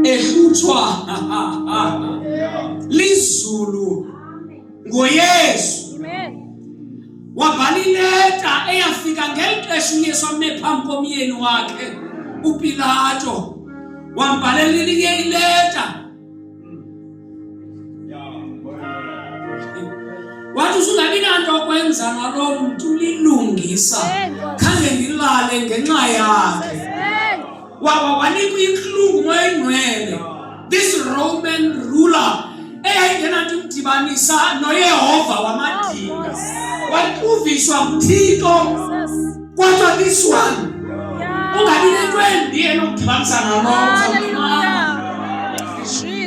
ehlutshwa lizulu ngoyesu wabhala ileta eyafika ngeli xesha uyesu ame phambi komyeni wakhe upilato wambhalela ileta wathi usungabi nanto okwenza naloo mntu lilungisa khange ndilale ngenxa yakhe wawa wanikwa intlungu moyingcwele this roman ruler eyayingenanto imdibanisa noyehova wamadinga waquviswa nguthixo Kodwa this one ungabi nento embi enokudibamisana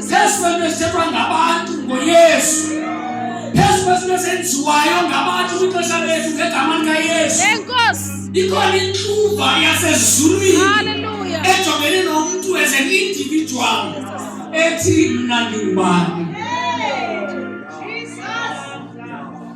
phezu kwento esithethwa ngabantu ngoyesu phezu kwezinto ezenziwayo ngabantu kwixesha lethu ngegama likayesu ikhona intluva yasezulwini ejongene nomntu as an individual ethi mna ndingubani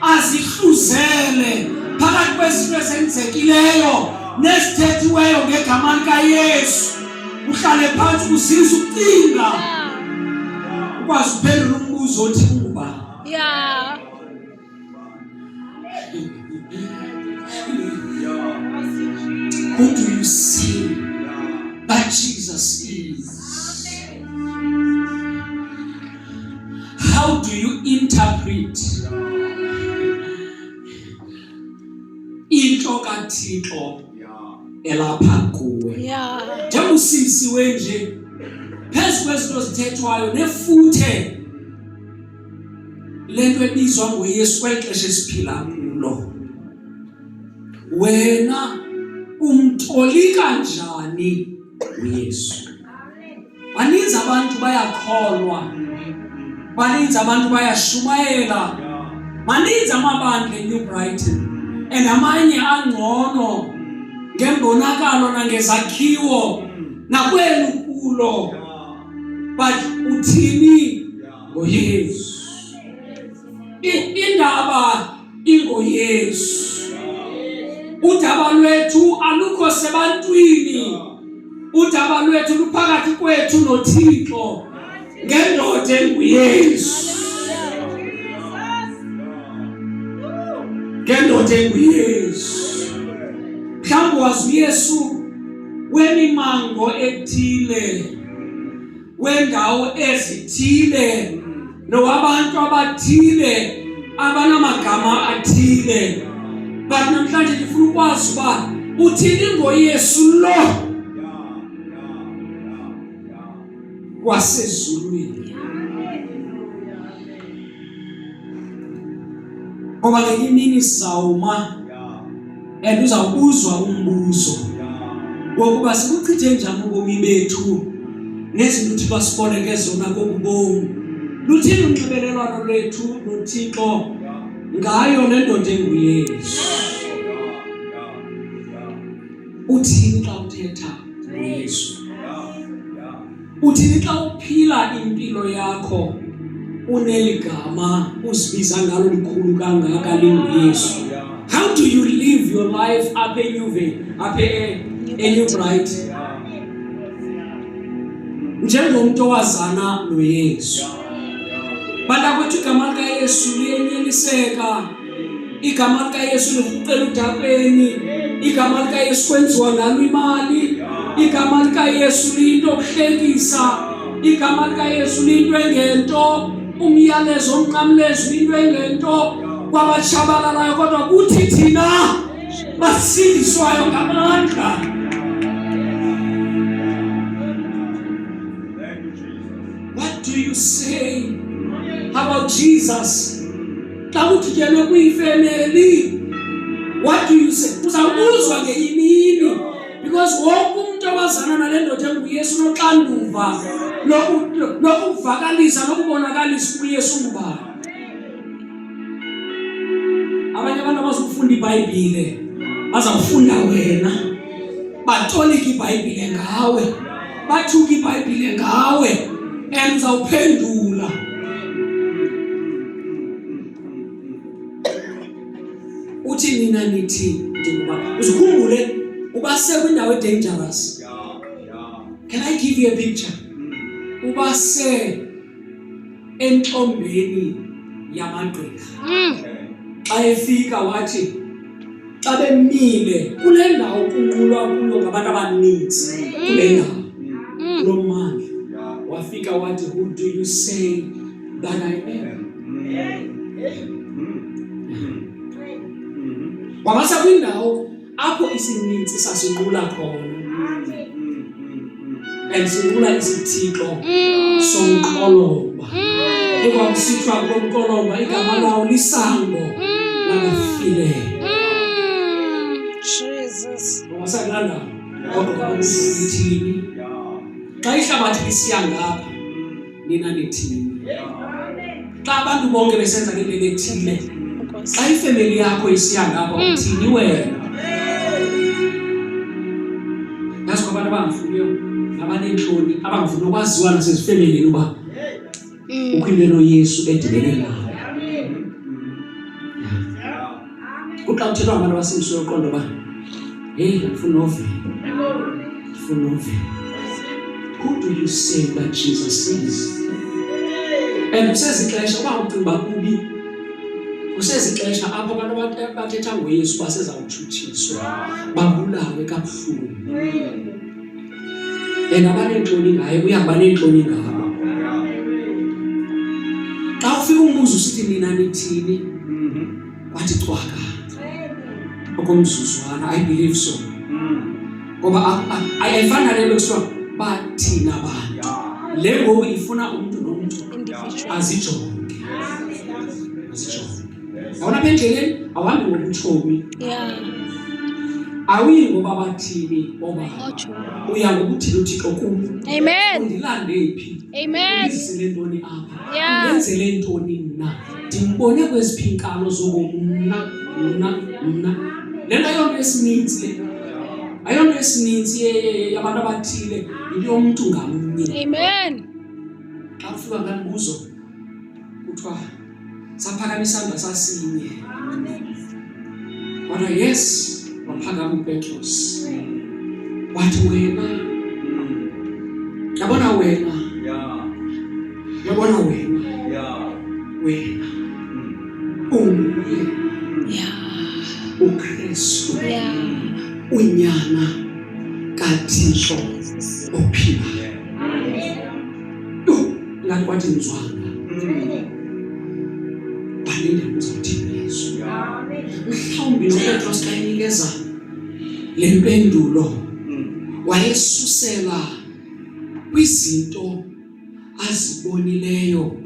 azihluzele phakathi kwezinto ezenzekileyo nezithethiweyo ngegama likayesu uhlale phantsi kusiza ukucinga ukwazi uphendula umbuzo othi kuba ya Who do you see that Jesus is? How do you interpret into kaThixo elapha kuwe? Njengoba usimsiwe nje phezu kwezinto zithethwayo nefuthe lento ebizwa ngoYesu kwexesha esiphila kulo wena umtolika njani uYesu baninzi abantu bayakholwa baninzi abantu bayashumayela maninzi amabandla enew brighton and amanye angcono ngembonakalo nangezakhiwo nakweli kulo but uthini ngoyesu indaba ingoYesu. Udaba lwethu alukho sebantwini, udaba lwethu luphakathi kwethu noThixo ngendoda enguYesu, ngendoda enguYesu. Mhlawumbi wazi uYesu wemimango ethile wendawo ezithile nowabantu abathile abanamagama athile but namhlanje ndifuna ukwazi uba uthini ngoyesu lo wasezulwini Ngoba ngenye imini sawuma and uzawubuzwa umbuzo wokuba sikuchithe njani ubomi bethu nezinto uThixo asiboleke zona kokubomi luthini unxibelelwano lwethu noThixo ngayo le ndoda enguyesu uthini xa uthetha ngoyesu Uthini xa uphila impilo yakho uneli gama uzibiza ngalo likhulu kangaka linguyesu how do you live your life apha enyuve apha enew bright njengomntu owazana noyesu bantakwethu igama likayesu liyenyeliseka igama likayesu lirhuqela udabeni igama likayesu kwenziwa ngalo imali igama likayesu liyinto okuhlekisa igama likayesu liyinto engento umyalezo omnqamlezo into engento kwabatshabalalayo kodwa kuthi thina basindiswayo ngamandla what do you say about jesus xa kudityenwe kwiifemeli what do you say uzawubuzwa ngenye imini because wonke umntu owazana nale ndoda enguyesu unoxanduva lokuvakalisa lokubonakalisa ukuyesu ngubani abanye abantu abazokufunda ibhayibhile bazakufunda wena batolika ibhayibhile ngawe bathuka ibhayibhile ngawe and uzawuphendula uthi nina nithi ndikuba uzikhumbule uba sekwindawo edangerous can i give you a picture uba se entombeni yamagqirha mm. xa efika wathi xa bemile kule ndawo kunqulwa kuyo ngabantu abaninzi mm. kule ndawo mm. kulo mmandla wafika wathi who do you say that i am wabasa kwindawo apho isininzi sasinqula khona and sinqula isithixo mm. somqolomba mm. ekwakusithiwa komqolomba igama mm. lawo lisango labafileyo wasakulanda kodwa kwakusiithini xa ihlabathi lisiya ngapha nina nithini? Xa abantu bonke besenza into ethile, xa ifemeli yakho isiya ngapha hmm. uthini wena? Yazi kwabantu abangafuniyo nabaneentloni abangafuni ukwaziwa nasezifemelini uba hmm. ukho into enoyesu edibene nayo. kuxa kuthethwa ngabantu abasindiso yoqondo uba heyi ndifuna ovela ndifuna ovela who do you say that jesus is and kusezixesha uba ucinga uba kubi kusezixesha apho abantu bathetha ngoyesu basezawutshutshiswa babulawe kabuhlungu and abaneentloni ngaye uyahamba neentloni ngabo xa ufika umbuzo usithi nina nithini mhm. wathi cwaka okomzuzwana i believe so mhm. ngoba ayifana le nto kuthiwa bathina abantu le ngoku ifuna umntu nomntu azijonge azijonge yabona apha endleleni awuhambi ngobutshomi awuyi ngoba bathini oba uya ngokuthini uthixo kum undilande phi ndizile ntoni apha ndenzele ntoni mna ndimbone kweziphi inkalo zobomi mna mna mna le nto ayonto esininzi le ayonto esininzi yabantu abathile yinto yomntu ngamnye xa ufika nganibuzo kuthiwa Saphakamisa isandla sasinye. Kodwa yes, waphakama uPetros. Wathi wena. Yabona wena. Yeah. Yabona wena. Yeah. Wena. Mm. Unguye. Yeah. uKristu unyana kaThixo ophilayo ngathi kwathi ngizwanga balinde kuzawuthini yesu mhlawumbi nopetros xa enikeza le mpendulo wayesusela kwizinto azibonileyo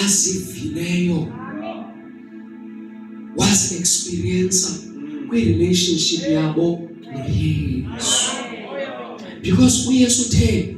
azivileyo was experience kwi-relationship yabo noyesu because uyesu utheni